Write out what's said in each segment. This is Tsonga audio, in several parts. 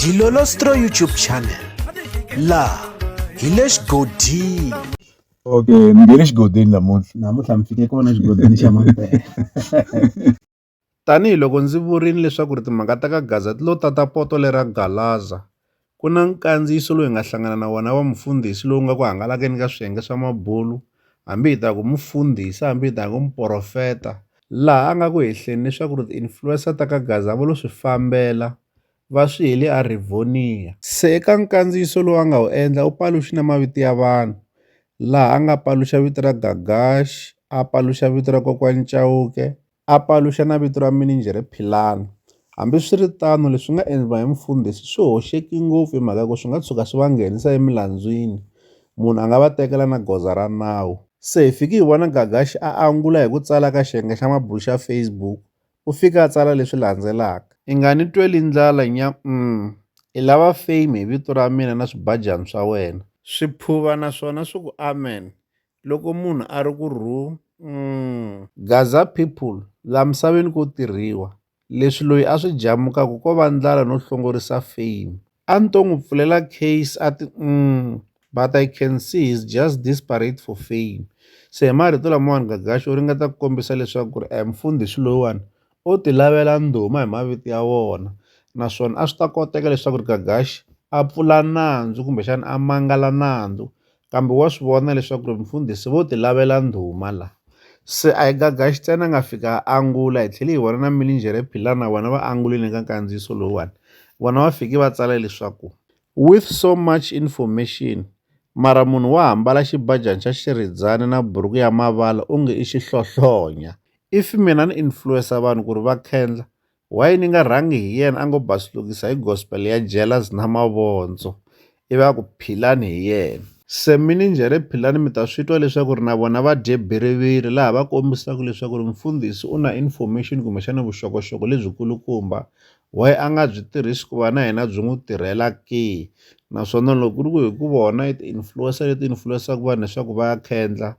Dilolostro YouTube channel laha hi le xigodini okay ni nge le xigodini namuntlha namuntlha mi fike kona xigodini xa mampela Tanihi loko ndzi vurile leswaku ri timhaka ta ka Gaza ti lo tata poto lera Galaza, Ku na nkandziyiso lowu hi nga hlangana na wona wa mufundhisi lowu nga ku hangalakeni ka swiyenge swa mabulu, hambi hi ta ku mufundhisi, hambi hi ta ku muporofeta, laha a nga ku hehleni leswaku ri ti-influencer ta ka Gaza vo lo swi fambela va swi hele eRivonia. Se eka nkandziyiso lowu a nga wu endla u paluxi na mavito ya vanhu, laha a nga paluxa vito ra Gagash, a paluxa vito ra kokwani Chauke, a paluxa na vito ra mininjhere Philani. Hambi swi ri tano, leswi nga endliwa hi mufundhisi swi hoxeki ngopfu hi mhaka ku swi nga tshuka swi va nghenisa emilandzwini, munhu a nga va tekela na goza ra nawu. Se hi fike hi vona Gagashi a angula hi ku tsala ka xiyenge xa mabulo xa Facebook, u fike a tsala leswi landzelaka. I nga ni tweli ndlala nya-um! I lava fame hi vito ra mina na swibajani swa wena. Swi phuva naswona swi ku amen! loko munhu a ri ku rhungh. Gaza people, la misaveni ko tirhiwa. Leswi loyi a swi jamukaka ko va ndlala no hlongorisa fame. A ni to n'wi pfulela case a ti umm but I can see he's just desperate for fame. Se hi marito lamawani Gagaxo u ringeta ku kombisa leswaku ku ri a hi mufundhisi loyiwani o ti lavela ndhuma hi mavito ya wona naswona a swi ta koteka leswaku ri Gagaxi a pfula nandzu kumbexana a mangala nandzu kambe wa swi vona leswaku ri mfundhisi vo ti lavela ndhuma la se a hi Gagaxi ntsena a nga fika a angula hi tlhele hi vona na Milinjhere Philana vona va angulile ka nkandziyiso lowuwani vona va fike va tsala leswaku with so much information mara munhu wa hambala xibajani xa xiridzani na buruku ya mavala onge i xihlohlonya if mina ni influencer vanhu ku ri va khendla why ni nga rhangi hi yena a ngo basulukisa hi gospel ya jealous na mavondzo i va ku philani hi yena se mi ni njhe ri philani mi ta swi twa leswaku ri na vona va dye biriviri laha va kombisaka leswaku ri mfundhisi u na information kumbexana vuxokoxoko lebyikulukumba why a nga byi tirhisi ku va na yena byi n'wi tirhela ke naswona loko ku ri ku hi ku vona i ti-influencer leti influencaka vanhu leswaku va ya khendla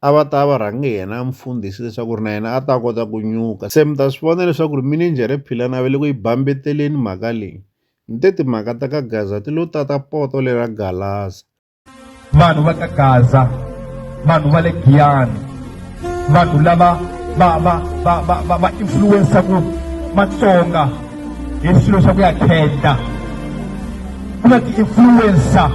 a va ta va rhange yena a mufundhisi leswaku ri na yena a ta kota ku nyuka se mi ta swi vona leswaku ri minijhere philani a ve le ku yi bambeteleni mhaka leyi ni te timhaka ta ka gaza ti lo tata poto lera galaza vanhu va ka gaza vanhu va le giyani vanhu lava va va va va va va influensaku matsonga hi swilo swa ku ya khenda ku na ti-influencer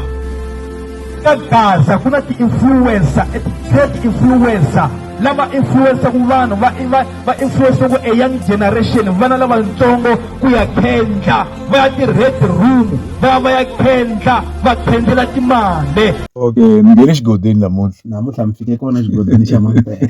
ka gaza ku na ti-influencer ti-trade influencer lava influensaku vanhu va va va influensaku a young generation vana lavatsongo ku ya khendla va ya ti-red room va ya va ya khendla va khendzela timali okay mi nge le xigodeni namuntlha namuntlha mi fike kona xigodeni xa mampela